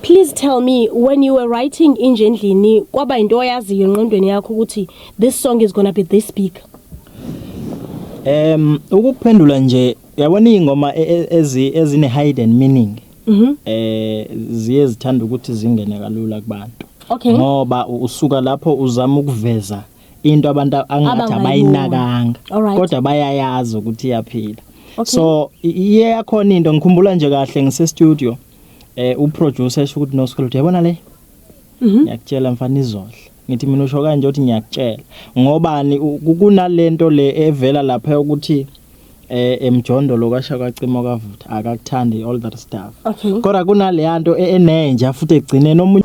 Please tell me when you were writing inje endlini kwaba into oyaziyo enqondweni yakho ukuthi this song is going to be this big. Um ukuphendula nje yabona ingoma e, e, ezi ezine hidden meaning. Mhm. Mm eh ziye zithanda ukuthi zingene kalula kubantu. Okay. Ngoba usuka lapho uzama ukuveza into abantu angathi abayinakanga kodwa bayayazi ukuthi iyaphila. Okay. So iye yakhona into ngikhumbula nje kahle ngise studio. Eh uproducer esho ukuthi no school yabona le. Mhm. Ngiyakutshela mfana izodla. Ngithi mina usho kanje uthi ngiyakutshela. Ngobani kunalento le evela lapha ukuthi eh emjondo lo kasha kwacimo kavutha akakuthandi all that stuff. Okay. Kodwa kunale yanto e-, enenja futhi egcine nomunye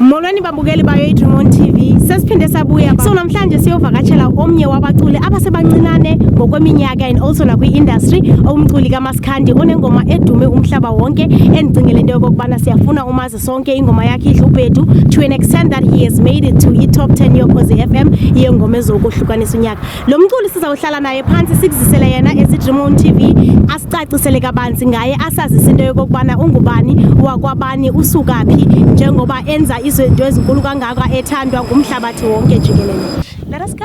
Molweni babukeli bayo iDream TV. Sesiphinde sabuya. So namhlanje siyovakatshela omnye wabaculi abasebancinane ngokweminyaka and also nakwi-industry umculi kaMasikhandi onengoma edume umhlaba wonke endicingele into yokokubana siyafuna umazi sonke ingoma yakhe idlubhedu to an extent that he has made it to i-top 10 yokhozi FM yengoma ezokuhlukanisa unyaka. Lo mculi sizawuhlala naye phansi sikuzisele yena esidream on TV asicacisele kabanzi ngaye asazise into yokokubana ungubani wakwabani usukaphi njengoba enza izinto ezinkulu kangaka ethandwa ngumhlabathi wonke jikelele. Let us go.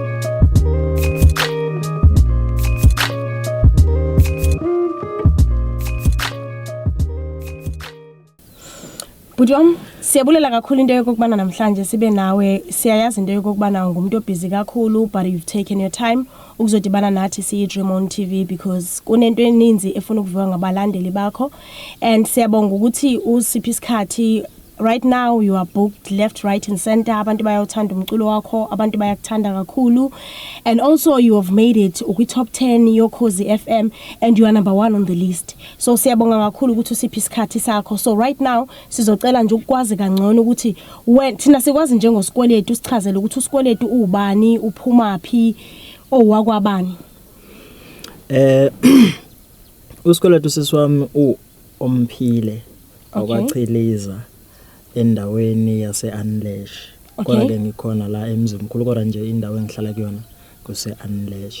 bhuti wam siyabulela kakhulu into yokokubana namhlanje sibe nawe siyayazi into yokokubana ungumntu obhizi kakhulu but you've taken your time ukuzodibana nathi siyi-dream on t v because kunento eninzi efuna ukuviwa ngabalandeli bakho and siyabonga ukuthi usiphi isikhathi Right now you are booked left right and center abantu bayawuthanda umculo wakho abantu bayakuthanda kakhulu and also you have made it ukwi top 10 yokhozi FM and you are number 1 on the list so siyabonga kakhulu ukuthi usiphi isikhathi sakho so right now sizocela nje ukwazi kangcono ukuthi when thina sikwazi njengosikweletu sichazele ukuthi usikweletu ubani uphuma phi owakwabani eh usikweletu sisiwami u Omphile wakwaChiliza endaweni yase-Anlesh. Kodwa ke ngikhona la eMzimkhulu kodwa nje indawo engihlala kuyona kuse-Anlesh.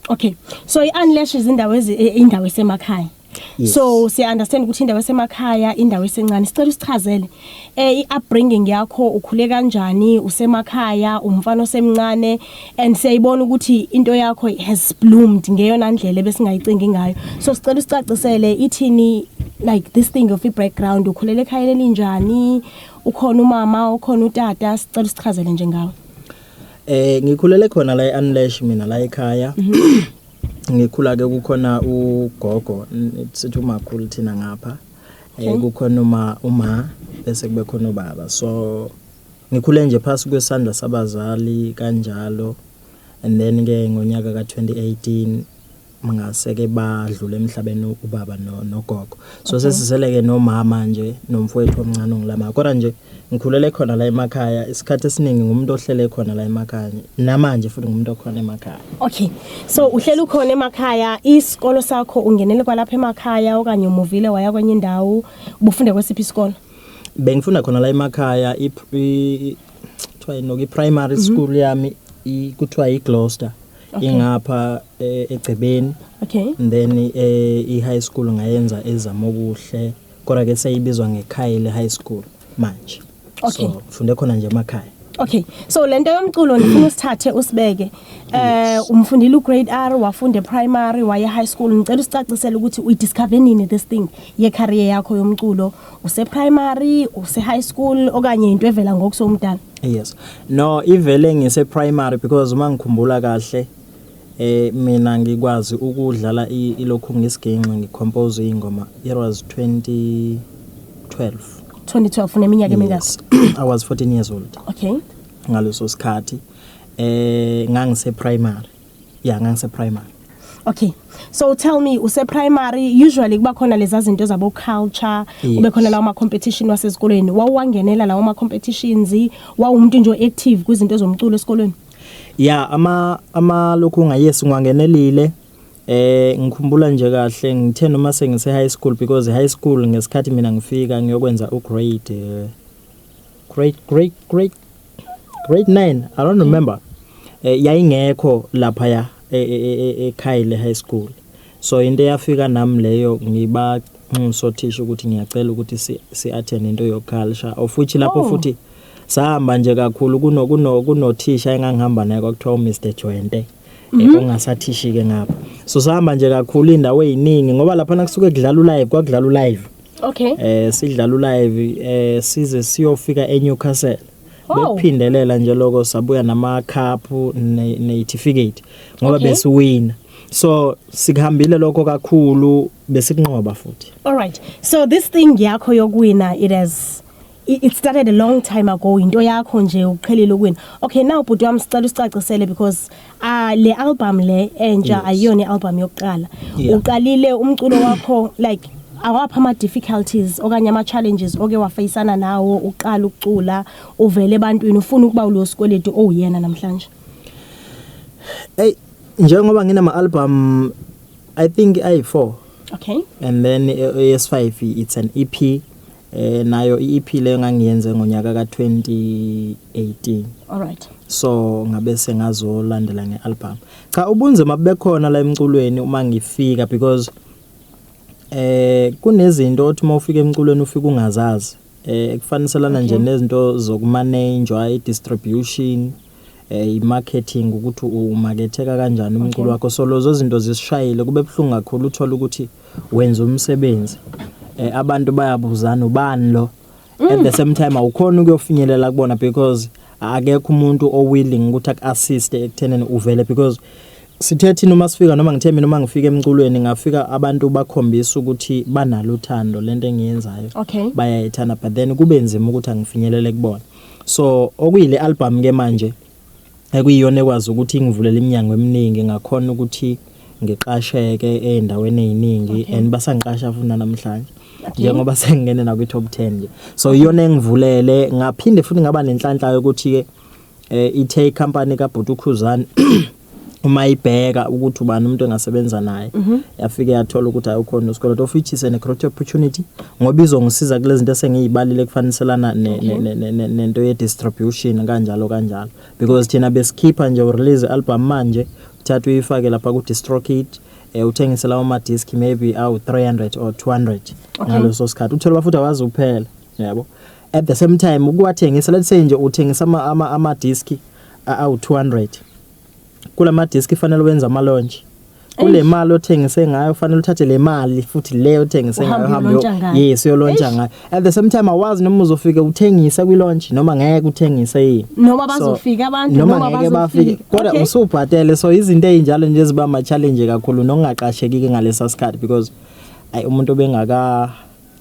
Okay. So i-Anlesh izindawo ezi e, indawo esemakhaya. Yes. So siya understand ukuthi indawo esemakhaya, indawo esencane. Sicela usichazele eh i-upbringing yakho ukhule kanjani usemakhaya umfana osemncane and siyayibona ukuthi into yakho has bloomed ngeyona ndlela besingayicingi ngayo so sicela usicacisele ithini like this thing of i-background ukhulele ekhayeni elinjani ukhona umama ukhona utata sicela usichazele nje ngawe eh ngikhulele khona la e-unlash mina la ekhaya mhm. ngikhula ke kukhona ugogo sithi umakhulu thina ngapha eh hmm? kukhona uma uma bese kube khona ubaba so ngikhule nje phasi kwesandla sabazali kanjalo and then ke ngonyaka ka 2018 ngase ke badlule emhlabeni ubaba nogogo so sesiseleke nomama nje nomfowethu omncane ongilama kodwa nje Ngikhulele khona la emakhaya, isikhathi esiningi ngumuntu ohlele khona la emakhaya. Namanje futhi ngumuntu okhona emakhaya. Okay. So uhlele ukhona emakhaya, isikolo sakho ungenele kwalapha emakhaya okanye umuvile waya kwenye indawo, ubufunde kwesiphi isikolo? Bengifunda khona la emakhaya i kuthiwa yini i primary mhm. school yami kuthiwa i Gloucester. Okay. Ingapha e, egcebeni. Okay. And then eh, i high school ngayenza ezamokuhle. kodwa ke seyibizwa ngeKhayile High School manje Okay. so ngifunde khona nje emakhaya Okay. So lento yomculo ngifuna usithathe usibeke. Eh umfundile ugrade R wafunda eprimary waye high school ngicela usicacisele ukuthi uyi discover nini this thing ye career yakho yomculo use primary use high school okanye into evela ngokusomdala. yes no ivele ngise primary because uma ngikhumbula kahle Eh mina ngikwazi ukudlala ilokhu ngisginxi ngicompose ingoma it was 2012. 2012 uneminyaka emingaki? I was 14 years old. Okay. Ngaleso sikhathi eh ngangise primary. Yeah ngangise primary. Okay. So tell me use primary usually kuba khona lezi zinto zabo culture yes. kube khona lawo ma competition wasezikolweni wawuwangenela lawo ma competitions wawumuntu nje active kwizinto zomculo esikolweni Ya ama ama lokhu nga yes ngiwangenelile eh ngikhumbula nje kahle ngithe noma sengise high school because high school ngesikhathi mina ngifika ngiyokwenza u grade eh, grade grade grade grade 9 i don't remember eh, yayingekho lapha ya ekhaya e, e, e, le high school so into eyafika nami leyo ngiba nxuso thisha ukuthi ngiyacela ukuthi si attend into yo culture of which lapho oh. futhi sahamba nje kakhulu kuno kuno kunothisha engangihamba naye kwakuthiwa uMr Jwente mhm. ongasathishi ke ngapha so sahamba nje kakhulu indawo eziningi ngoba lapha nakusuke kudlala ulive kwakudlala ulive okay eh sidlala ulive eh size siyofika eNewcastle oh. bekuphindelela nje lokho sabuya nama cup ne certificate ngoba okay. besiwina so sikuhambile lokho kakhulu besikunqoba futhi all right so this thing yakho yokuwina it has I- it started a long time ago into yakho nje uqhelile ukuwina okay now bhuti wami sicela usicacisele because ah le album le entsha Yes. ayiyona i-album yokuqala Yeah. uqalile umculo wakho like awapha ama-difficulties okanye ama-challenges oke wafeyisana nawo uqala ukucula uvele ebantwini ufuna ukuba ulo sikweletu owuyena namhlanje Ey njengoba nginama album I think ayi4 okay and then eh, yes5 it's an E EP eh nayo iEP le ngangiyenze ngonyaka ka 2018 alright so ngabe sengazolandela ngealbum cha ubunzima bekhona la emculweni uma ngifika because eh kunezinto othi uma ufika emculweni ufika ungazazi eh kufaniselana nje nezinto zokumanage i distribution eh imarketing ukuthi umaketheka kanjani umculo wakho so lozo zinto zisishayile kube buhlungu kakhulu uthola ukuthi wenza umsebenzi eh abantu bayabuzana ubani lo mm. at the same time awukhona ukuyofinyelela kubona because akekho umuntu o willing ukuthi ak assist ekutheneni uvele because sithe thina uma sifika noma ngithe mina uma ngifika emculweni ngafika abantu bakhombisa ukuthi banalo uthando lento engiyenzayo okay. bayayithanda but then kube nzima ukuthi angifinyelele kubona So okuyile album ke manje ekuyiyona ekwazi ukuthi ingivulele iminyango eminingi ngakhona ukuthi ngiqasheke ezindaweni eziningi okay. and basangiqasha futhi namhlanje okay. njengoba sengingene na kwi top 10 nje so iyona engivulele ngaphinde futhi ngaba nenhlanhla yokuthi ke eh, ithe icompany kaBhuti uKhuzani uma ibheka ukuthi ubani umuntu engasebenza naye mhm. yafike yathola ukuthi ayokhona usikole of which is an great opportunity ngoba izongisiza kulezi zinto esengiyibalile kufaniselana nento ye distribution kanjalo kanjalo because thina besikhipha nje urelease album manje uthatha uyifake lapha ku distrokid eh uthengise lawo ma disc maybe awu 300 or 200 ngaleso sikhathi uthola bafuthi awazi uphela yabo at the same time ukuwathengisa let's say nje uthengisa ama ama disc awu-200 kula madiski fanele wenze amalonje kule mali othengise ngayo fanele uthathe le mali futhi le othengise ngayo hambe yes uyolontsha ngayo at the same time awazi noma uzofike uthengise kwi launch noma ngeke uthengise yini noma bazofika abantu noma ngeke bafike kodwa usubhatele so izinto ezinjalo nje ziba ma challenge kakhulu nokungaqashekiki ngalesa sikhathi because ay umuntu obengaka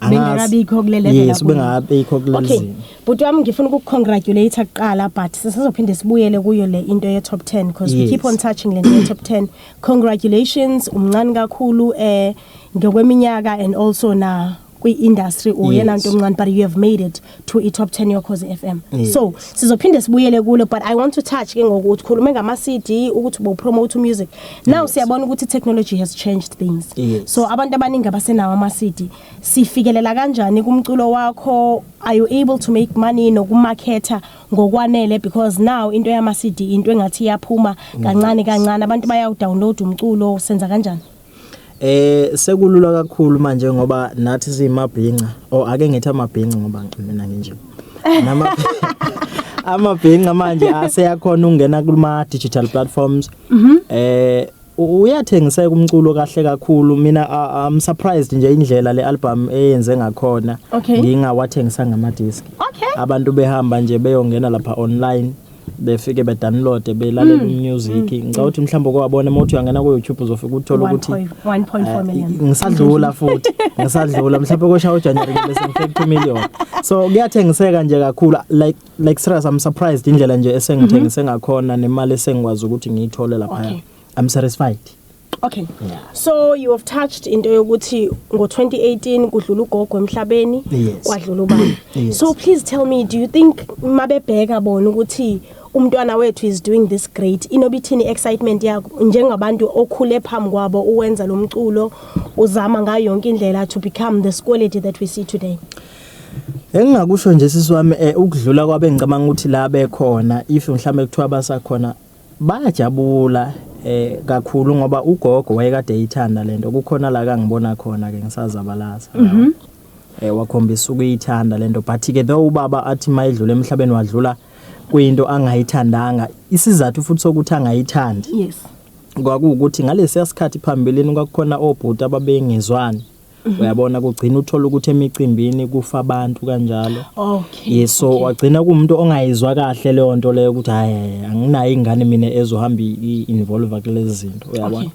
bengakabikho kule level yes bengakabikho kule okay bhuti wami ngifuna ukukongratulate kuqala but sisazophinde sibuyele kuyo le into ye top 10 because yes. we keep on touching le into top 10 congratulations umncane kakhulu eh ngokweminyaka and also na kwi-industry uyena yes. nto omncane but you have made it to i top 10 yokhozi FM yes. so sizophinde sibuyele kulo but i want to touch ke ngokuthi khulume ngama CD ukuthi bo promote music now yes. siyabona ukuthi technology has changed things yes. so abantu abaningi abasenawo ama CD sifikelela kanjani kumculo wakho are you able to make money nokumarketa ngokwanele because now into yama CD into engathi iyaphuma kancane kancane abantu bayawudownload umculo senza kanjani Eh sekulula kakhulu manje ngoba nathi simabhinca or oh, ake ngithi amabhinca ngoba mina nginje. Nama amabhinca manje aseyakhona ukungena kuma digital platforms. Mhm. Eh uyathengiseka umculo kahle kakhulu mina I'm surprised nje indlela le album eyenze ngakhona ngingawathengisanga ama disc abantu behamba nje beyongena lapha online befike bedownloade belalela mm. umusic mm. ngicabanga ukuthi mhlawumbe kwabona uma uthi uyangena ku YouTube uzofika uthola ukuthi 1.4 eh, million ngisadlula futhi ngisadlula mhlawumbe kosha uJanuary bese ngifike ku million so kuyathengiseka nje kakhulu like like serious i'm surprised indlela nje esengithengise mm-hmm. ngakhona nemali esengikwazi ukuthi ngiyithole lapha okay. I'm satisfied. Okay. Yeah. So you have touched into yokuthi ngo2018 kudlula ugogo emhlabeni Yes. kwadlula ubaba. Yes. So please tell me do you think mabebheka bona ukuthi umntwana wethu is doing this great inobithini excitement yakho njengabantu okhule phambi kwabo uwenza lo mculo uzama ngayo yonke indlela to become this quality that we see today. Engingakusho nje sisi wami eh, ukudlula kwabengicabanga ukuthi la bekhona if mhlambe kuthiwa basakhona Bayajabula eh kakhulu ngoba ugogo wayekade eyithanda lento kukhona la kangibona khona ke ngisazabalaza mm -hmm. eh wakhombisa ukuyithanda lento but ke though ubaba athi mayedlula emhlabeni wadlula kuyinto angayithandanga isizathu futhi sokuthi angayithandi yes kwakuwukuthi ngalesiya sikhathi phambilini kwakukhona obhuti ababengezwani Mhm. uyabona kugcina uthola ukuthi emicimbini kufa abantu kanjalo okay yes so okay. wagcina kumuntu ongayizwa kahle leyo nto leyo ukuthi hayi anginayo ingane mina ezohamba involve kulezi zinto uyabona okay.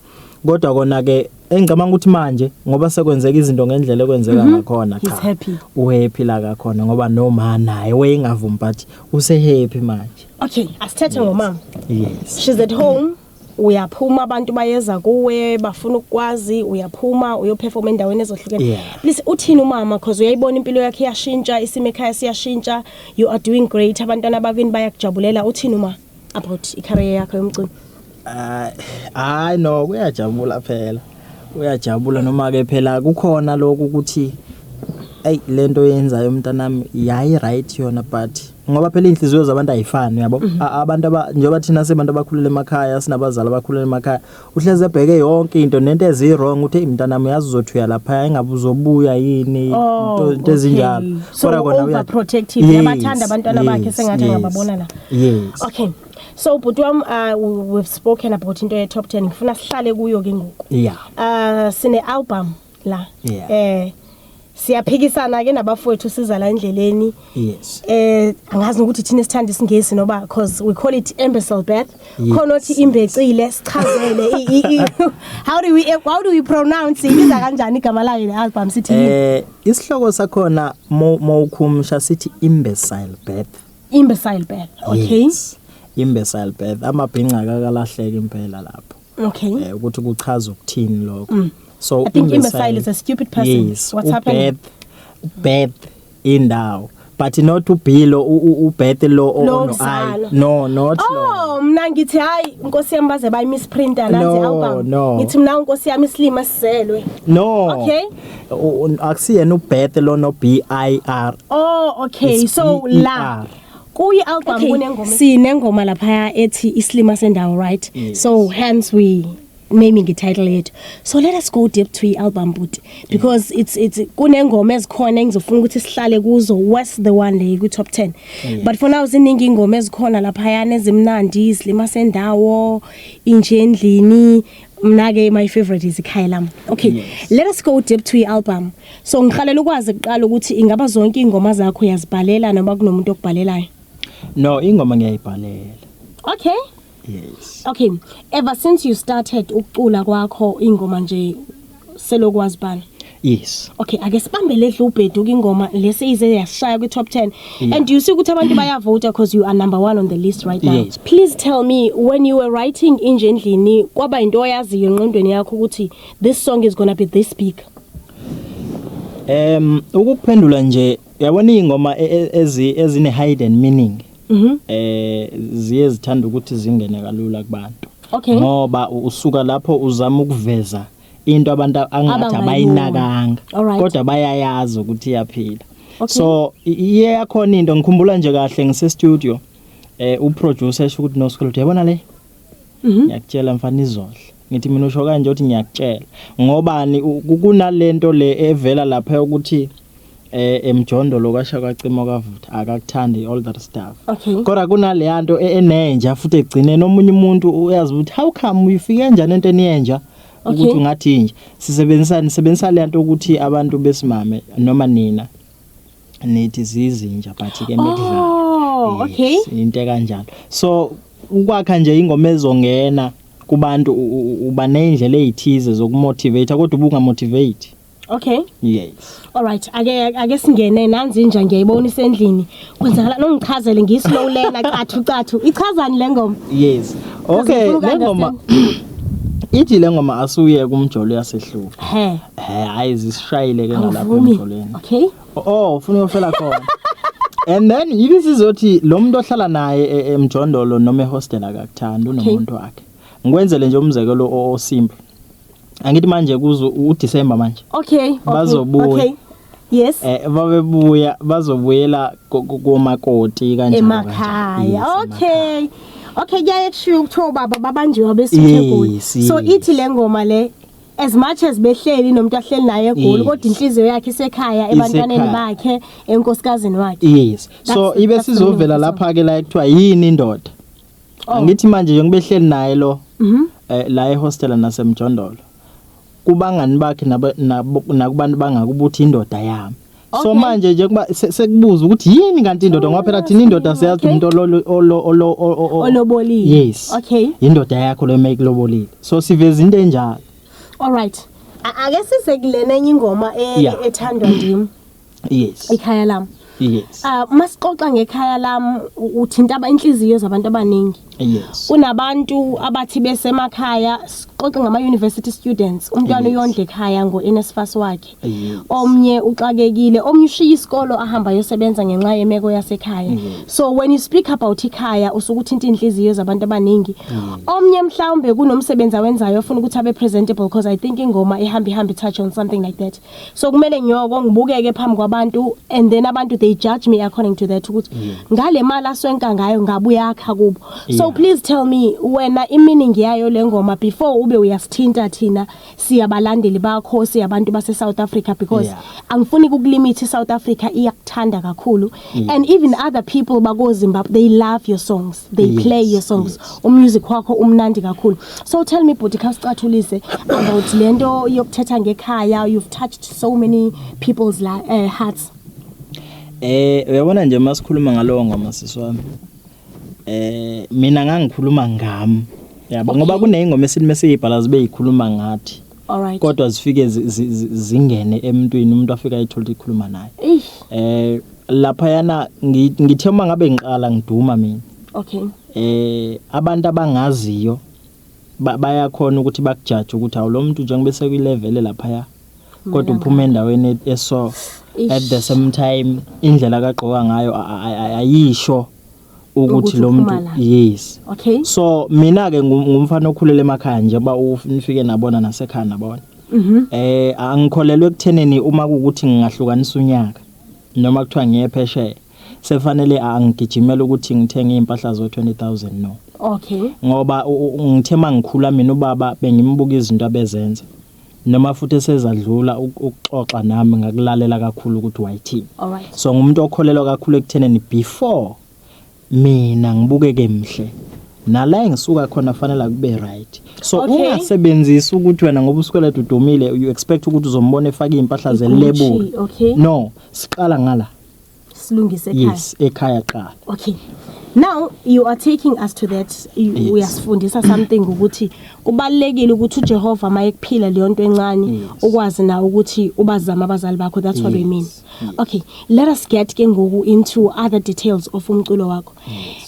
kodwa kona ke engicabanga ukuthi manje ngoba sekwenzeka izinto ngendlela ekwenzeka mhm. ngakhona cha uhappy la kakhona ngoba noma naye wayengavumi but use happy manje okay asithethe ngomama yes she's at home uyaphuma abantu bayeza kuwe bafuna ukukwazi uyaphuma uyoperforma endaweni ezohlukene yeah. please uthini umama cause uyayibona impilo yakhe iyashintsha isimo ekhaya siyashintsha you are doing great abantwana bakini bayakujabulela uthini uma about icareer yakho yomculo ah, hayi uh, no kuyajabula phela uyajabula noma ke phela kukhona lokho ukuthi hey lento yenzayo umntanami yayi right yona but ngoba phela inhliziyo zabantu ayifani yabo mhm. abantu aba njengoba thina sebantu abakhulele emakhaya sinabazali abakhulele emakhaya uhleze ebheke yonke into nento ezi wrong uthe imntanami uyazi uzothuya lapha engabe uzobuya yini oh, into ezinjalo kodwa kona uya protective yabathanda abantwana bakhe sengathi angababona la yes okay so bhuti wam uh, we've spoken about into ye top 10 ngifuna sihlale kuyo ke ngoku yeah uh sine album la Yeah. eh siyaphikisana ke nabafowethu siza la endleleni yes eh angazi nokuthi thina sithanda isingisi noba because we call it imbecile birth Yes. khona othi imbecile sichazele i- i- i- how do we how do we pronounce ibiza kanjani igama layo le album sithi yini? eh isihloko sakhona mo- mawukhumsha sithi imbecile birth imbecile birth okay Yes. imbecile birth amabhinca akakalahleki impela lapho okay eh, ukuthi kuchaza ukuthini lokho mm. so i think imbecile is a stupid person yes, what's happening bad indawo but not ubhilo ubeth lo ono i no not oh, lo mina ngithi hayi inkosi yami baze bayi misprinter la nje awubanga no. ngithi mina inkosi yami isilima sizelwe no okay akusiyena ubeth lo no b i r oh okay it's so B-E-R. la kuyi album okay. kunengoma sinengoma lapha ethi islima sendawo right yes. so hence we naming ititle yethu so let us go deep to i-album buti because yeah. it's it's kunengoma ezikhona engizofuna ukuthi sihlale kuzo west the one le ku top 10 yeah. but for now ziningi ingoma ezikhona lapha yana ezimnandi izilima sendawo inje endlini mna ke my favorite is ikhaya lami okay yes. let us go deep to i-album so ngiqalela ukwazi kuqala ukuthi ingaba zonke iy'ngoma zakho uyazibhalela noma kunomuntu okubhalelayo no ingoma ngiyayibhalela okay yes okay ever since you started ukucula kwakho ingoma nje selokhu wazibhala yes okay ake sibambele edla ubhedu kingoma lesi ize yashaya kwi top 10 yeah. and you see ukuthi abantu bayavota because you are number 1 on the list right now yes. please tell me when you were writing inje endlini kwaba into oyaziyo enqondweni yakho ukuthi this song is going to be this big um ukuphendula nje yabona ingoma e, e, ezi ezine hidden meaning mhm. eh ziye zithanda ukuthi zingene kalula kubantu okay ngoba usuka lapho uzama ukuveza into abantu angathi abayinakanga kodwa bayayazi ukuthi iyaphila okay. so iye yakhona into ngikhumbula nje kahle ngise studio eh u producer esho ukuthi no school yabona le Mhm. ngiyakutshela mfana izodla ngithi mina usho kanje uthi ngiyakutshela ngobani u- ku- kunalento le evela lapha ukuthi eh emjondolo kwasha kwacimo kavutha akakuthandi all that stuff Okay. kodwa kunaleya nto e- enenja futhi egcineni omunye umuntu uyazi ukuthi how come uyifike njani into eniyenja ukuthi Okay. ungathi inja sisebenzisani sebenzisa le nto ukuthi abantu besimame noma nina nithi zizinja but ke mekudlala oh yes, okay into kanjalo so ukwakha nje ingoma ezongena kubantu uba nezindlela ezithize zokumotivate kodwa ubunga motivate okay yes all right ake ake singene nanzi nje ngiyayibona isendlini kwenzakala nongichazele ngislow lena cathu cathu ichazani lengoma yes Okay, le ngoma ithi le ngoma asuye kumjolo yasehlupha. He. He, hayi zisishayile ke ngalapho emjolweni. Okay. Oh, ufuna uyofela khona. And then yini sizothi lo muntu ohlala naye e- emjondolo noma ehostel akakuthandi unomuntu wakhe. Ngikwenzele nje umzekelo o- osimple. Angithi manje kuzo uDecember manje. Okay. okay, Bazobuya. Okay. Yes. Eh babebuya bazobuyela komakoti kanjalo. Emakhaya. Okay. Okay kuyaye kushiwo kuthiwa baba babanjiwe abesithegoli. So ithi le ngoma le as much as behleli nomuntu ahleli naye egoli kodwa inhliziyo yakhe isekhaya ebantwaneni bakhe enkosikazini wakhe. Yes. So ibe sizovela lapha ke la ekuthiwa yini indoda. Oh. Angithi manje njengobehleli naye lo. Mhm. Eh, la ehostela nasemjondolo kubangani bakhe nakubantu bangaka ukuthi indoda yami so manje nje kuba sekubuza ukuthi yini kanti indoda ngoba phela thina indoda siyazi umuntu olobolile yes okay indoda yakho le make lobolile so siveza into enjalo all right ake size kulena enye ingoma e- ethandwa ndim yes ikhaya lami yes ah uma sixoxa ngekhaya lami uthinta aba inhliziyo zabantu abaningi yes kunabantu abathi besemakhaya sixoxe ngama university students umntwana Yes. uyondla ekhaya ngo NSFAS wakhe Yes. omnye uxakekile omnye ushiya isikolo ahamba yosebenza ngenxa yemeko yasekhaya Yes. so when you speak about ikhaya usuke uthinta inhliziyo zabantu abaningi omnye mhlawumbe kunomsebenzi awenzayo ofuna ukuthi abe presentable because i think ingoma ihamba ihamba touch on something like that so kumele nyoko ngibukeke phambi kwabantu and then abantu they judge me according to that ukuthi ngale mali aswenka ngayo ngabe uyakha kubo so Yeah. please tell me wena iminingi yayo le ngoma before ube uyasithinta thina siyabalandeli bakho siyabantu base South Africa because Yeah. angifuni ukulimit iSouth Africa iyakuthanda kakhulu Mm. And even other people bako Zimbabwe they love your songs. They yes, play your songs. Yes. Umusic wakho umnandi kakhulu. So tell me bhuti khasicathulise about lento yokuthetha ngekhaya you've touched so many people's la, uh, hearts. Eh uyabona nje masikhuluma ngalowo ngoma sisi wami. Eh mina ngangikhuluma ngami. Yabo okay. ngoba kuneyingoma esilime siyibhala zibe yikhuluma ngathi. Alright. kodwa zifike zi- zi- zi- zingene emntwini umuntu afika ayithola ukuthi ikhuluma naye Eish. eh lapha yana ngi- ngithe uma ngabe ngiqala ngiduma mina Okay. eh abantu abangaziyo ba- bayakhona ukuthi bakujaje ukuthi awu lo muntu njengoba eseku level lapha ya kodwa uphuma endaweni e- eso Eish. at the same time indlela kagqoka ngayo a- a- a- ayisho ukuthi lo muntu yes okay so mina ke ngumfana okhulele emakhaya nje ba ufike nabona nasekhaya nabona mhm. eh angikholelwe ekutheneni uma ukuthi ngingahlukanisa unyaka noma kuthiwa ngiye phesheya sefanele angigijimele ukuthi ngithenge impahla zo 20000 no okay ngoba ngithe mangikhula mina ubaba bengimbuka izinto abezenza noma futhi esezadlula ukuxoxa nami ngakulalela kakhulu ukuthi wayithini Alright. so ngumuntu okholelwa kakhulu ekutheneni before mina ngibukeke mhle nala engisuka khona fanele kube right so Okay. ungasebenzisi ukuthi wena ngoba usikweleta udumile you expect ukuthi uzombona efaka izimpahla zelebula okay. no siqala ngala silungise ekhaya yes ekhaya qala okay now you are taking us to that Yes. uyasifundisa something ukuthi kubalekile ukuthi uJehova mayekuphila leyo nto encane Yes. ukwazi na ukuthi ubazama abazali bakho that's what we mean Yes. okay let us get ke ngoku into other details of umculo wakho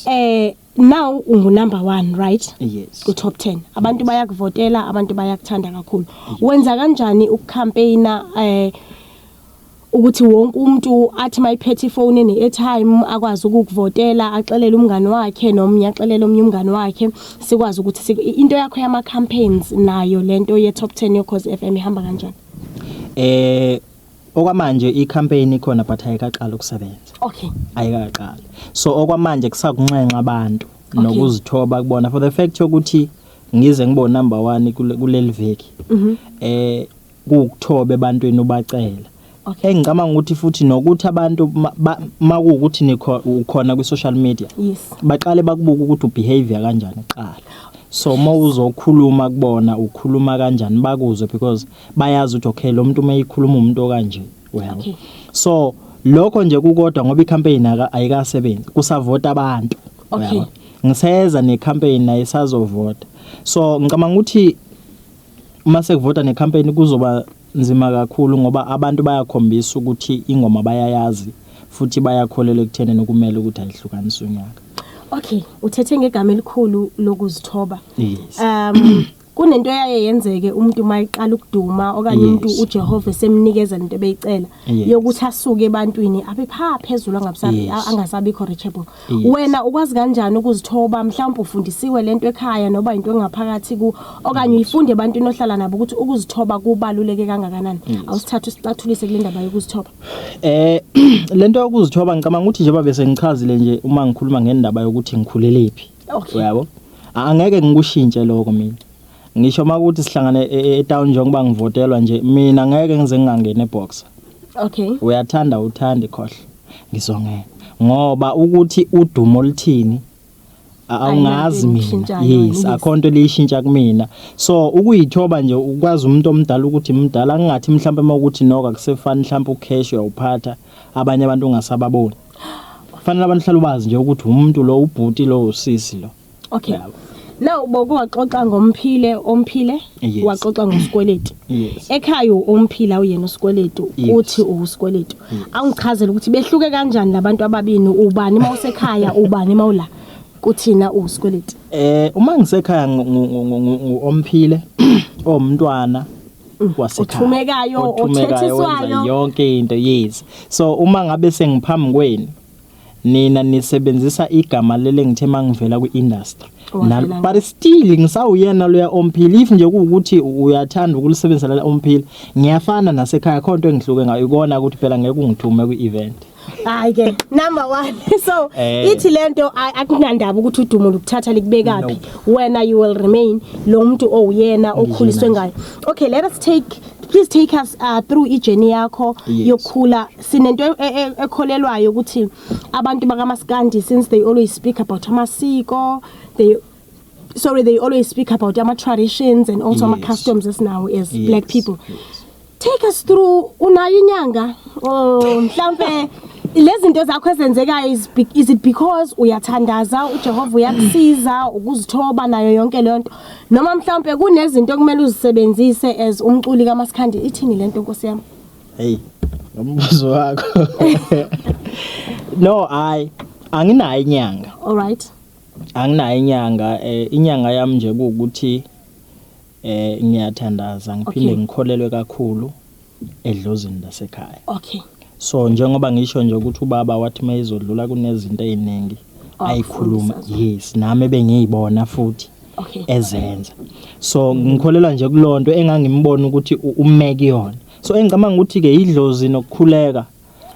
eh now ungu number 1 right yes ku top 10 abantu yes. bayakuvotela abantu bayakuthanda kakhulu yes. wenza kanjani ukucampaigner eh ukuthi wonke umuntu athi mayiphethe ifone ne airtime akwazi ukukuvotela axelele umngani wakhe nomnye axelele omnye umngani wakhe sikwazi ukuthi into yakho yama campaigns nayo lento ye top 10 yo cause FM ihamba kanjani eh Okwamanje i-campaign ikhona but ayikaqali ukusebenza. Okay. Ayikaqali. So okwamanje kusakunxenxa abantu nokuzithoba kubona for the fact yokuthi ngize ngibo number 1 kuleli veki. Mhm. Eh kukuthobe ebantwini ubacela. Okay. Engicabanga ukuthi futhi nokuthi abantu makuwukuthi nikho ukhona kwi social media. Yes. Baqale bakubuka ukuthi ubehavior kanjani kuqala. so uma uzokhuluma kubona ukhuluma kanjani bakuzwe because bayazi ukuthi okay lo muntu uma eyikhuluma umuntu okanje uyabo Okay. so lokho nje kukodwa ngoba icampaign aka- ayikasebenzi kusavota abantu Okay. uyabo? ngiseza necampaign naye sazovota so ngicabanga ukuthi uma sekuvota necampaign kuzoba nzima kakhulu ngoba abantu bayakhombisa ukuthi ingoma bayayazi futhi bayakholela ekutheni nokumele ukuthi ayihlukanise unyaka Okay, uthethe ngegama elikhulu lokuzithoba. yes Um kunento eyaye yenzeke umuntu uma eqala ukuduma okanye umuntu Yes. uJehova esemnikeza into ebeyicela Yes. yokuthi asuke ebantwini abe pha phezulu angabisabi Yes. a- angasabikho reachable Yes. wena ukwazi kanjani ukuzithoba mhlawumbe ufundisiwe lento ekhaya noba into engaphakathi ku okanye uyifunde ebantwini ohlala nabo ukuthi ukuzithoba kubaluleke kangakanani awusithatha usicathulise kule ndaba yokuzithoba Eh lento yokuzithoba ngicabanga ukuthi njengoba bese ngichazile nje uma ngikhuluma ngendaba yokuthi ngikhulelephi okay uyabo angeke ngikushintshe lokho mina ngisho uma ukuthi sihlangane e- e- etown njengoba ngivotelwa nje mina ngeke ngize ngingangeni eboxer okay uyathanda uthandi khohle ngizongena ngoba ukuthi udumo oluthini a- awungazi Ayinanto mina eyishintshayo, yes yes. akho nto eliyishintsha kumina so ukuyithoba nje ukwazi umuntu omdala ukuthi mdala ngingathi mhlawumbe uma ukuthi noka kusefani mhlawumbe ucash uyawuphatha abanye abantu ungasababoni kufanele abantu hlala ubazi nje ukuthi umuntu lo ubhuti lo usisi lo okay Yabo. now boke waxoxa ngomphile omphile Yes. waxoxa ngosikweletu yes ekhaya umphila uyena usikweletu Yes. uthi uwusikweletu awungichazele ukuthi behluke kanjani labantu ababini ubani uma usekhaya ubani uma ula kuthina uwusikweletu eh uma ngisekhaya ngu- ngu- ngu- ngu- ngu- omphile omntwana Mm, wasekhaya othumekayo othethiswayo yonke into yes so uma ngabe sengiphambi kwenu nina nisebenzisa igama lele ngithe mangivela kwi-industry but still ngisawuyena loya omphila if nje kuwukuthi uyathanda ukulisebenzisela omphila ngiyafana nasekhaya khona into engihluke ngayo ikona ukuthi phela ngeke ungithume kwi-event hayi ke number 1 so eh. ithi lento akunandaba ukuthi udumo lokuthatha likubekaphi wena you will remain lo muntu owuyena okhuliswe ngayo okay let us take please take us uh, through ijourney yakho yes. yokukhula sinento e, e, ekholelwayo ukuthi abantu bakamaskandi since they always speak about amasiko they sorry they always speak about ama traditions and also ama yes. customs esinawo as yes. black people yes. take us through unayo inyanga oh mhlambe lezinto zakho ezenzekayo is, is it because uyathandaza uJehova uyakusiza ukuzithoba nayo yonke lento noma mhlambe kunezinto okumele uzisebenzise as umculi kaMasikhandi ithini lento Nkosi yami hey umbuzo wakho no i anginayo inyanga all right Anginayo inyanga eh, inyanga yami nje kuwukuthi eh ngiyathandaza ngiphinde Okay. ngikholelwe kakhulu edlozini lasekhaya. okay So njengoba ngisho nje ukuthi ubaba wathi mayizodlula kunezinto eziningi Oh, ayikhuluma kufundisa zona. yes nami bengiyibona futhi okay ezenza. So ngikholelwa nje kulonto engangimbona ukuthi u- ume kuyona. So engicabanga ukuthi ke idlozi nokukhuleka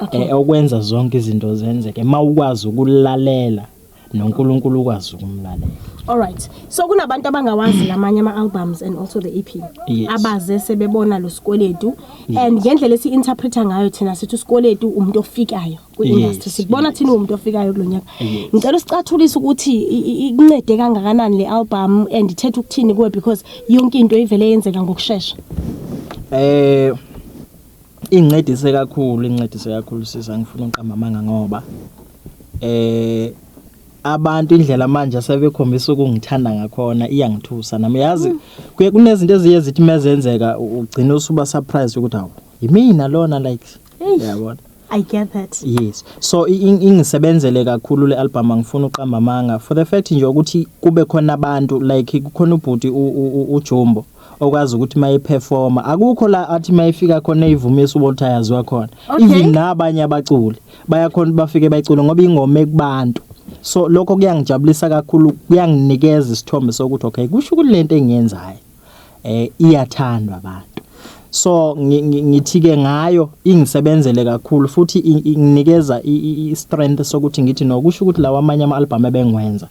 Okay. eh, okwenza zonke izinto zenzeke mawukwazi ukulalela noNkulunkulu ukwazi ukumlalela all right so kunabantu abangawazi lamanye ama albums and also the EP yes. abaze sebebona lo sikweletu yes. and ngendlela esi interpreter ngayo thina sithi usikweletu umuntu ofikayo ku industry yes. sikubona yes. thina umuntu ofikayo kulonyaka yes. ngicela usicathulise ukuthi ikuncede kangakanani le album and ithethe ukuthini kuwe because yonke into ivele yenzeka ngokusheshsha eh Incedise kakhulu, incedise kakhulu sisi angifuni uqamba amanga ngoba eh abantu indlela manje asebekhombisa ukungithanda ngakhona iyangithusa nami yazi mm. kuye kunezinto eziye zithi mezenzeka ugcina usuba surprise ukuthi hawu yimina lona like yabona I get that. Yes. So ingisebenzele kakhulu le album angifuni uqamba amanga for the fact nje ukuthi kube khona abantu like kukhona ubhuti uJumbo okwazi ukuthi mayiperforma akukho la athi mayifika khona eyivumisa ukuthi ayaziwa khona Okay. even nabanye abaculi bayakhona ukuthi bafike bayicule ngoba ingoma ekubantu so lokho kuyangijabulisa kakhulu kuyanginikeza isithombe sokuthi okay kusho ukuthi lento engiyenzayo eh iyathandwa abantu so ngi- ngi- ngithike ngayo ingisebenzele kakhulu futhi i- i- inginikeza i- i- i strength sokuthi ngithi no kusho ukuthi lawa amanye ama album ebengiwenza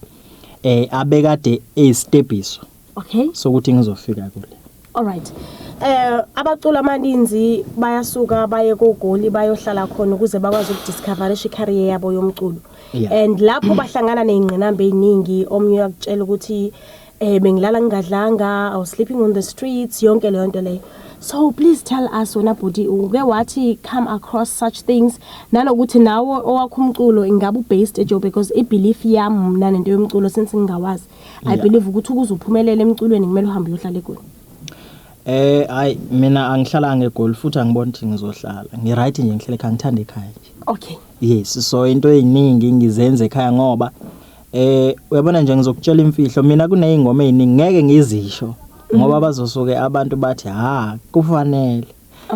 eh abekade eyisitebiso okay sokuthi ngizofika kule all right eh abacula amaninzi bayasuka baye kogoli bayohlala khona ukuze bakwazi ukudiscoverisha icareer yabo yomculo yeah. and lapho bahlangana nezingqinamba eziningi omnye uyakutshela ukuthi eh bengilala ngingadlanga i was sleeping on the streets yonke leyo nto leyo so please tell us wena bhuti uke wathi come across such things nanokuthi nawo owakho umculo ingabe ubased ejobe because ibelief yami mna nento yomculo since ngingawazi i believe ukuthi ukuze uphumelele emculweni kumele uhambe uyohlala egoli Eh hayi mina angihlalanga egoli futhi angiboni ukuthi ngizohlala. Ngi right nje ngihlele ekhaya ngithanda ekhaya nje. Okay. Yes so into eziningi ngizenze ekhaya ngoba eh uyabona nje ngizokutshela imfihlo mina kunezingoma eziningi ngeke ngizisho mhm. ngoba bazosuke abantu bathi ha kufanele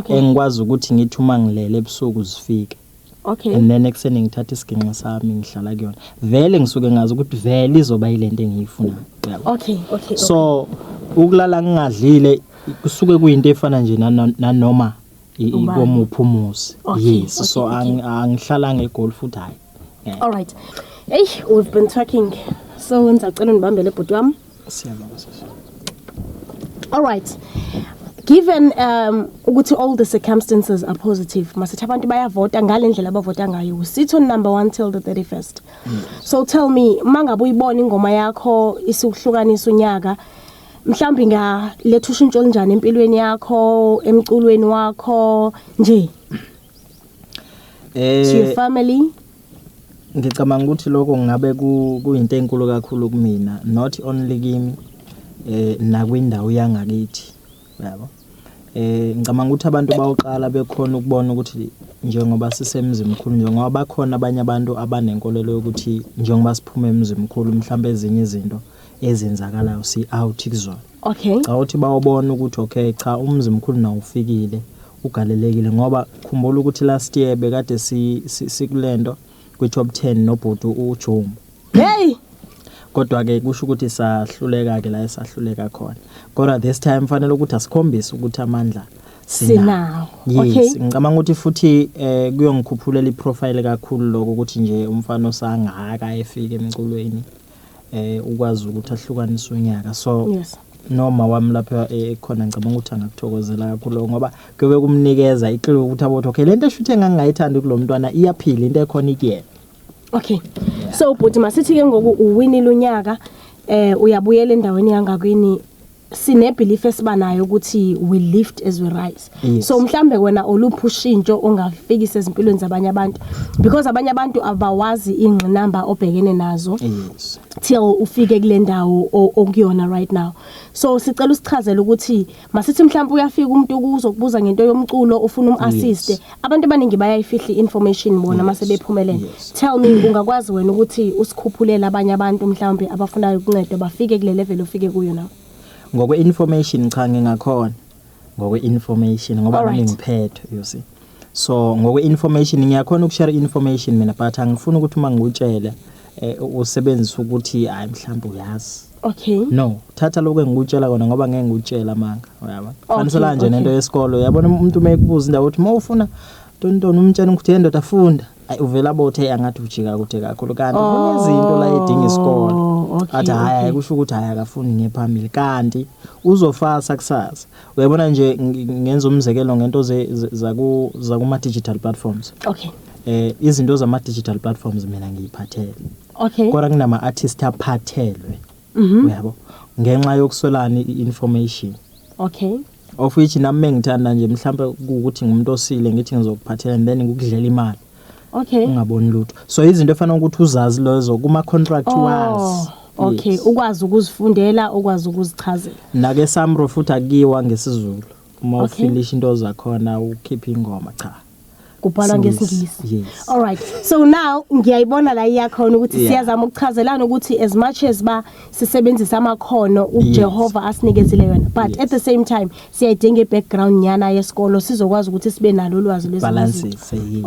engikwazi ukuthi ngithi uma ngilele ebusuku zifike okay and then ekuseni ngithatha isiginxi sami ngihlala kuyona vele ngisuke ngazi ukuthi vele izoba yilento engiyifunayo yabo okay okay so ukulala ngingadlile kusuke kuyinto efana nje nano- nanoma i- Ubani? ikomuphi umuzi Okay, yes okay, so okay. angi- angihlala ngegoli futhi hayi all right hey we've been talking so ngizacela undibambele bhuti wami Siyabonga sisi. All right. Given um ukuthi all the circumstances are positive, masithi abantu bayavota ngalendlela abavota ngayo. We sit on number 1 till the 31st. Mm. So tell me mangabe uyibona ingoma yakho isihlukanisa unyaka mhlawumbe ngaletha ushintsho olunjani empilweni yakho, emculweni wakho nje. Eh to your family Ngicabanga ukuthi lokho ngabe kuyinto enkulu kakhulu kumina not only kimi eh nakwindawo yangakithi yabo eh ngicabanga ukuthi abantu bayoqala bekhona ukubona ukuthi njengoba sisemzimkhulu njengoba bakhona abanye abantu abanenkolelo yokuthi njengoba siphuma emzimkhulu mhlawumbe ezinye izinto ezenzakalayo si out kuzona okay cha uthi bawubona ukuthi okay cha umzimkhulu nawufikile Ugalelekile ngoba khumbula ukuthi last year bekade sikulento kwi top 10 nobhuti uJomo. Hey! Kodwa ke kusho ukuthi sahluleka ke la esahluleka khona. Kodwa this time kufanele ukuthi asikhombise ukuthi amandla sinawo. Yes, ngicabanga ukuthi futhi eh kuyongikhuphulela iprofile kakhulu lokho ukuthi nje umfana osangaka efike emculweni. eh ukwazi ukuthi ahlukanise unyaka so yes noma wami lapha eh, ekhona ngicabanga ukuthi angakuthokozela kakhulu ngoba kuyobe kumnikeza iclue ukuthi abothi okay lento eshuthi engangayithandi kulomntwana iyaphila into ekhona ikuyena okay so bhuti masithi ke ngoku uwinile unyaka eh uyabuyela endaweni yangakwini sine belief esiba nayo ukuthi we lift as we rise yes. so mhlambe wena olupha ushintsho ongafikisa ezimpilweni zabanye abantu because abanye abantu abawazi ingqinamba obhekene nazo yes. till ufike kule ndawo okuyona right now so sicela usichazele ukuthi masithi mhlambe uyafika umuntu kuzo kubuza ngento yomculo ufuna umassiste yes. Abantu abaningi bayayifihla information bona mase bephumelele. Tell me ungakwazi wena ukuthi usikhuphulele abanye abantu mhlawumbe abafunayo ukuncedwa bafike kule level ofike kuyo nawe. Ngokwe information cha ngingakhona. Ngokwe information ngoba Alright. nami ngiphethe you see. So ngokwe information ngiyakhona ukushare information mina but angifuni ukuthi uma ngikutshele eh, usebenzise ukuthi hayi mhlawumbe uyazi. Okay. No, thatha lokho engikutshela kona ngoba ngeke ngikutshela amanga, uyabo. Okay, Fanisela nje okay. nento yesikole, uyabona umuntu uma ekubuza indawo uthi mawufuna tontoni umtshela ukuthi hey ndoda funda. Ay uvela abothe angathi ujika kude kakhulu kanti kunezinto la edinga isikole. Oh, okay, Athi hayi okay. kusho ukuthi hayi akafuni ngephambili kanti uzofasa kusasa. Uyabona nje ngi- ngenza umzekelo ngento ze- ze- zaku zakuma digital platforms. Okay. Eh izinto zama digital platforms mina ngiyiphathele. okay kodwa kunama artist aphathelwe mhm. uyabo ngenxa yokuswelana i-information okay of which nami mengithanda nje mhlawumbe ukuthi ngumuntu osile ngithi ngizokuphathela and then ngikudlela imali okay ungaboni lutho so izinto efana ukuthi uzazi lezo kuma contract oh. wazi okay yes. ukwazi ukuzifundela ukwazi ukuzichazela nake samro futhi akiwa ngesizulu uma okay. ufilisha into zakhona ukhipha ingoma cha kubhalwa ngesingisi all right so now ngiyayibona la iyakhona ukuthi yeah. siyazama ukuchazelana ukuthi as much as ba sisebenzisa amakhono uJehova yes. asinikezile yona but yes. at the same time siyayidinga ibackground nyana yesikolo sizokwazi ukuthi sibe nalo ulwazi lwezinto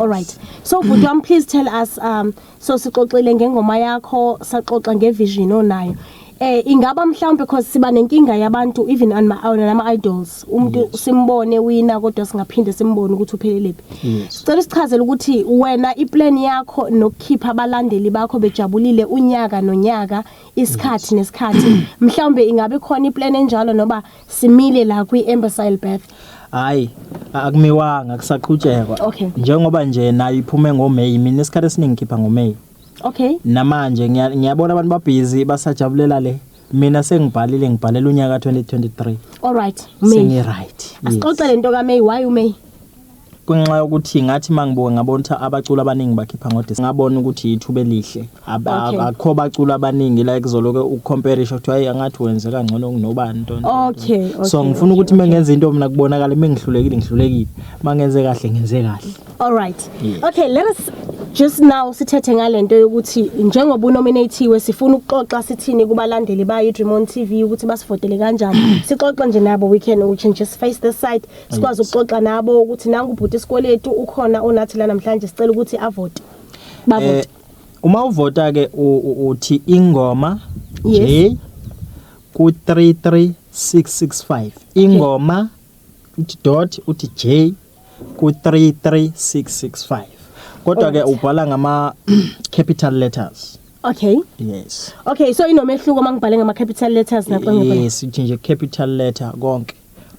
all right so bhuti wami please tell us um so sixoxile ngengoma yakho saxoxa ngevision onayo eh ingaba mhlawumbe because siba nenkinga yabantu even nama idols umuntu yes. simbone wina kodwa singaphinde simbone ukuthi uphelelepi yes. sicela sichazele ukuthi wena iplan yakho nokukhipha abalandeli bakho bejabulile unyaka nonyaka isikhathi yes. nesikhathi mhlawumbe ingabe khona iplan enjalo noba Simile la kwi Ambersile Bath. Hayi, akumiwanga kusaqhutshekwa. Okay. Njengoba nje nayo iphume ngoMay, mina isikhathi esiningi ngikhipha ngoMay. Okay. Namanje ngiya- ngiyabona abantu babhizi basajabulela le. Mina sengibhalile ngibhalela unyaka 2023. All right. May. Sengi right. Asixoxe lento ka May, why u May? kunxa yokuthi ngathi mangibuka ngabona ukuthi abaculi abaningi bakhipha ngodis ngabona ukuthi yithuba elihle Okay. akho baculi abaningi la kuzoloke ucomparison kuthiwa hey angathi wenze kangcono kunobani into nje. Okay, okay, so ngifuna okay, ukuthi mengenza into mina kubonakala mengihlulekile ngihlulekile mangenze kahle ngenze kahle All right. Yes. Okay, let us just now sithethe ngalento yokuthi njengoba unominatiwe sifuna ukuxoxa sithini kubalandeli bayo iDream on TV ukuthi basivotele kanjani. Sixoxe nje nabo we can we can just face this side sikwazi ukuxoxa nabo ukuthi nangu ubhuti isikweletu ukhona onathi la namhlanje sicela ukuthi avote bavote eh, uma uvota ke uthi ingoma J ku 33665 ingoma uthi dot uthi J ku 33665 kodwa ke ubhala ngama capital letters Okay. Yes. Okay, so inomehluko mangibhale ngama capital letters naqonge. Yes, uthi nje capital letter konke.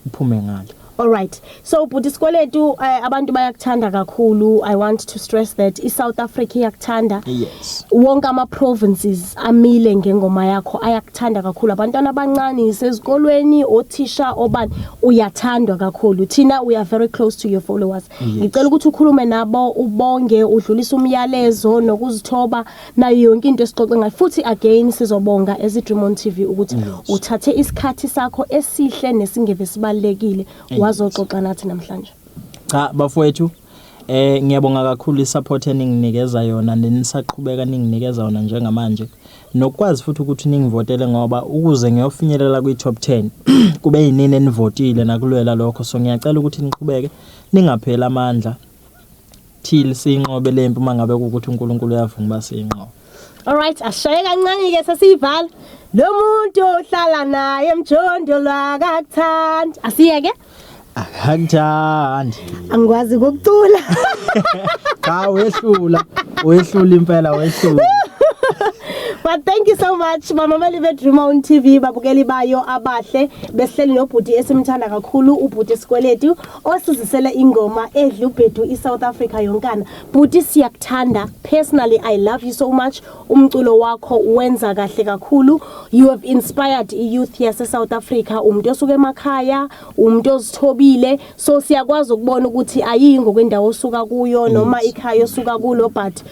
uphume ngale All right. So bhuti Skweletu eh, abantu bayakuthanda kakhulu. I want to stress that i South Africa iyakuthanda. Yes. Wonke ama provinces amile ngengoma yakho ayakuthanda kakhulu. Abantwana abancane sezikolweni, othisha obani uyathandwa kakhulu. Thina we are very close to your followers. Ngicela ukuthi ukhulume nabo ubonge udlulisa umyalezo nokuzithoba nayo yonke into esixoxe ngayo futhi again sizobonga as Dream on TV ukuthi uthathe isikhathi sakho esihle nesingeve sibalekile wazoxoxa nathi namhlanje cha bafowethu eh ngiyabonga kakhulu isupport eninginikeza yona nenisaqhubeka ninginikeza yona njengamanje nokwazi futhi ukuthi ningivotele ngoba ukuze ngiyofinyelela kwi top 10 kube yinini enivotile nakulwela lokho so ngiyacela ukuthi niqhubeke ningapheli amandla till siyinqobe le mpi uma ngabe kuwukuthi uNkulunkulu uyavuma uba siyinqobe Alright ashaye kancane ke sesiyivala lo muntu ohlala naye mjondolo akakuthandi asiyeke akakuthandi angikwazi ukucula cha wehlula wehlula impela wehlula But thank you so much bamameli bedream on TV babukeli bayo abahle besihleli nobhuti esimthanda kakhulu ubhuti sikweletu osizisele ingoma edla ubhedu i-south africa yonkana bhuti siyakuthanda personally i love you so much umculo wakho wenza kahle kakhulu you have inspired i-youth yase-south africa umuntu osuke emakhaya umuntu ozithobile so siyakwazi ukubona ukuthi ayiyi ngokwendawo osuka kuyo noma ikhaya osuka kulo but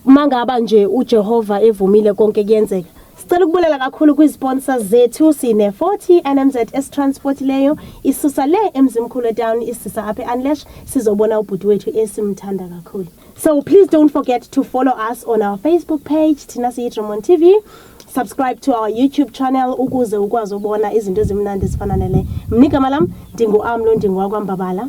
mangaba nje ujehova evumile konke kuyenzeka Sicela ukubulela kakhulu kwi-sponsors zethu sine-40 nmz esitransport leyo isusa le emzimkhulu etown isisa apha e-unlash sizobona ubhuti wethu esimthanda kakhulu so please don't forget to follow us on our facebook page thina siyi-dremon tv subscribe to our youtube channel ukuze ukwazi ubona izinto ezimnandi ezifana nele mnigama lam ndingu-amlo ndingowakwambabala